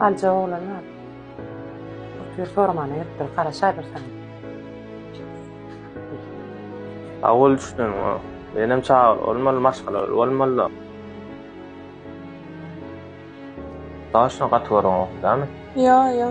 Aljak oglan ol. Otur sormana ýetdir, garaşadyr saňa. Awul düşdüm. Menem çagyr bolmaly, maşgala bolmaly. Daşyna gaty görüň, dämi? Ýa, ýa.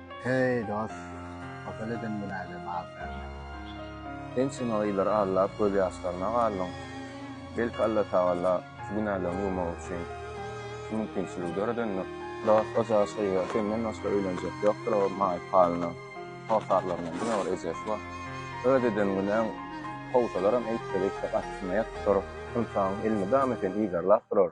Heý, dost, hasal eden günäge bag berme. Ençeme ýyllar aglap, gözýaşlaryna galdyň. Belki Allatagala şu günäleňi ýuwmak üçin şu mümkinçiligi döredendir? Dost, o jaş gyza senden başga öýlenjek ýokdur, o maýyp halyna hossarlaryndan diňe bir ejesi bar. Öz eden günäň kowsalaram eýtse-beýtse garşysyna ýatyp durup, ynsaň elini damy sen yzarlap durar.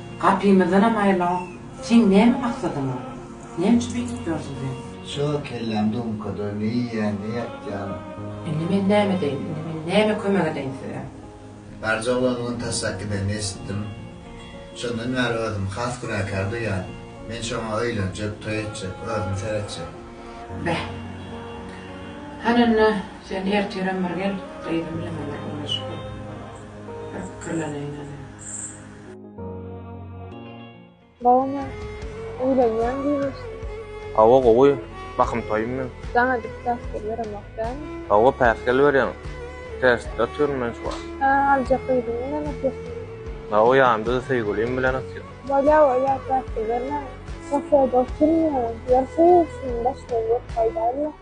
Gapymyzdanam aýrylawok. Seň näme maksadyň bar? Näme üçin beýdip ýörsüň sen? Şo kelläň dumkada ne iýýäň, ne ýatýaň? Indi men näme edeýin? Indi men näme kömek edeýin size? Barja oglan on taşlap gidenini eşitdim. Şondan bäri özümi has günäkär duýýan. Men şoňa öýlenjek, toý etjek, özüm seretjek. Beh. Hany onda, sen ertirem bir gel, gyzym bilen bir gürleşip gör. Bir pikirleneýin hany. Bawmy? Öýlenýäň diýmişdiň. Hawa gowy, bahym toýum meň. Jaň edip päsgel beremok dämi? Hawa päsgel berýäň, tersde otyryn men şu wagt. Hä, aljak gyzyň bilen otyrsyň. Hawa ýanymda-da söýgülim bilen otyr. Bolýa bolýa päsgel bermäň. Kafede otyryn ýöne, ýeri soýulsyn, başga ýurt paýdaly ýok.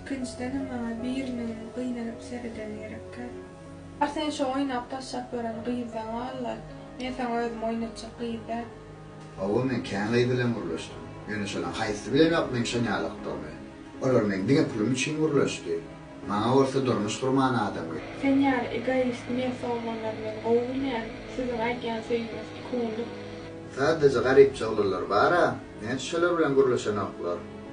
Ikinjidenem maňa biriniň gynanyp seredeni gerekkä. Bar sen şo oýnap taşlap ýören gyzdan gal-la, men saňa özüm oýnatjak gyz däl. Hawa, men kän gyz bilen gürleşdim. Ýöne şolaryň haýsysy bilenem ýok meň şo ýalakdygymy. Olar meň diňe pulum üçin gürleşdi. Maňa bolsa durmuş gurman adam gerek. Sen ýaly egoist mersowganlary men gowy bilýän, siziň aýdýan söýgiňiz iki günlük. Sadece garypja oglanlar bar-a, näçe şolar bilen gürleşenoklar.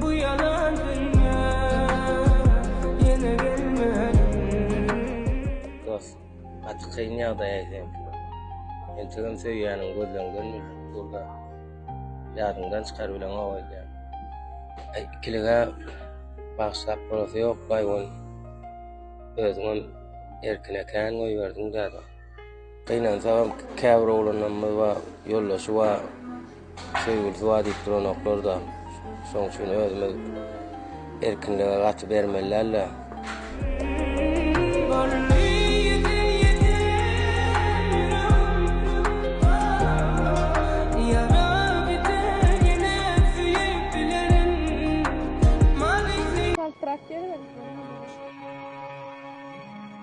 Bu ýalan dünýä ýene gelmedim. Dos gaty kyn ýagdaýa seňkiler. Entegem söýýäniň gözleňden mürjik durda ýadyňdan çykar bileňok öýdýän. Aý ikilige bagyşlap bolasy ýok baý ony özüňem erkine kän goýberdiň däde. Gynansagam käbir oglanlarymyz bar, ýoldaşy bar, söýgülisi bar diýip duranoklar-da. Şonuň üçin özümiz erkinlige gaty bermeli däl-de.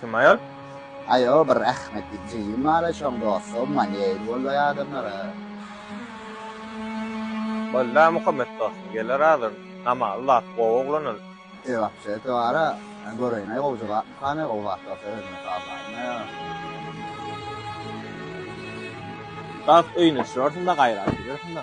Kim aýal? Aýo bir rahmetli jigim bar şoň dostum maneýl boldaý adamlara. Bolda Muhammet dostum geler azyn. Namaly zat gowy oglan ol. Eý wapşe twara göreýinä gowy jogap kany gowy zat bolsa özüne salmaýynda. Dost öýüne düşersiňda gaýrat edersiňda.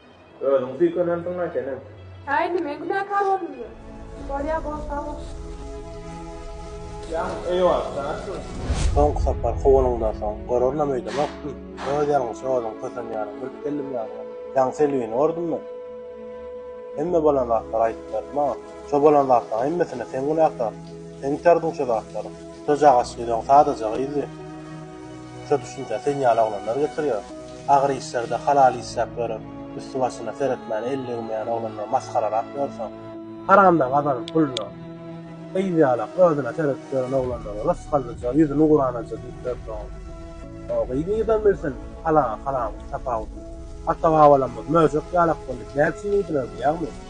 Özüň süýkenensiň-a senem. Häý, indi men günäkär boldummy? Bolýa, bol sag bol. Jan, eýwah, daşgyn. Soňky sapar kowanyňdan soň, görernam öýdemokdym. Öz ýalňyşa özüň kösenýäniň bilip geldim ýaňy. Jan, Selbini gördümmi? Hemme bolan zatlary aýdyp berdi maňa. Şo bolan zatlaryň hemmesine sen günäkär. Sen iterdiň şo zatlary. Şo jagaşylyň sadaja gyzy. Şo düşünjä sen ýaly oglanlar getirýär. Agyr işlerde halal işläp ýörüp, üsti-başyna seretmän elli ýygmaýan oglanlar masgararak ýörseň, haramdan gazanyp puluna gyz ýalak özüne seredip ýören oglanlara rysgallyja, ýüzüni guranaja diýip ýörseň, o gyz nirden bilsin halaly-haramyň tapawudyny? Ata-babalarymyz möjek ýalak boldy, näçe iýdiler diýýäňmi?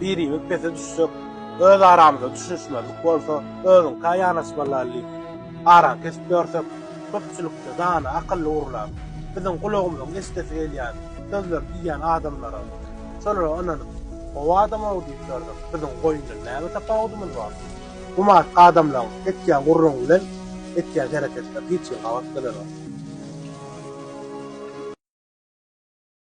Birimiz pese düşsek, öz aramyzda düşünişmezlik bolsa, özüňkä ýanaşmalylaly diýip, araňy kesip ýörsek, köpçülikde dana, akylly gurlan, biziň gulagymyzyň eşidesi gelýän sözleri diýýän adamlara, şolara ynanyp, Gowy adam-ow diýip ýörsek, biziň goýundan näme tapawudymyz bar? Gumartyk adamlaryň etýän gürrüňi bilen etýän hereketleri hiç hili gabat gelenok.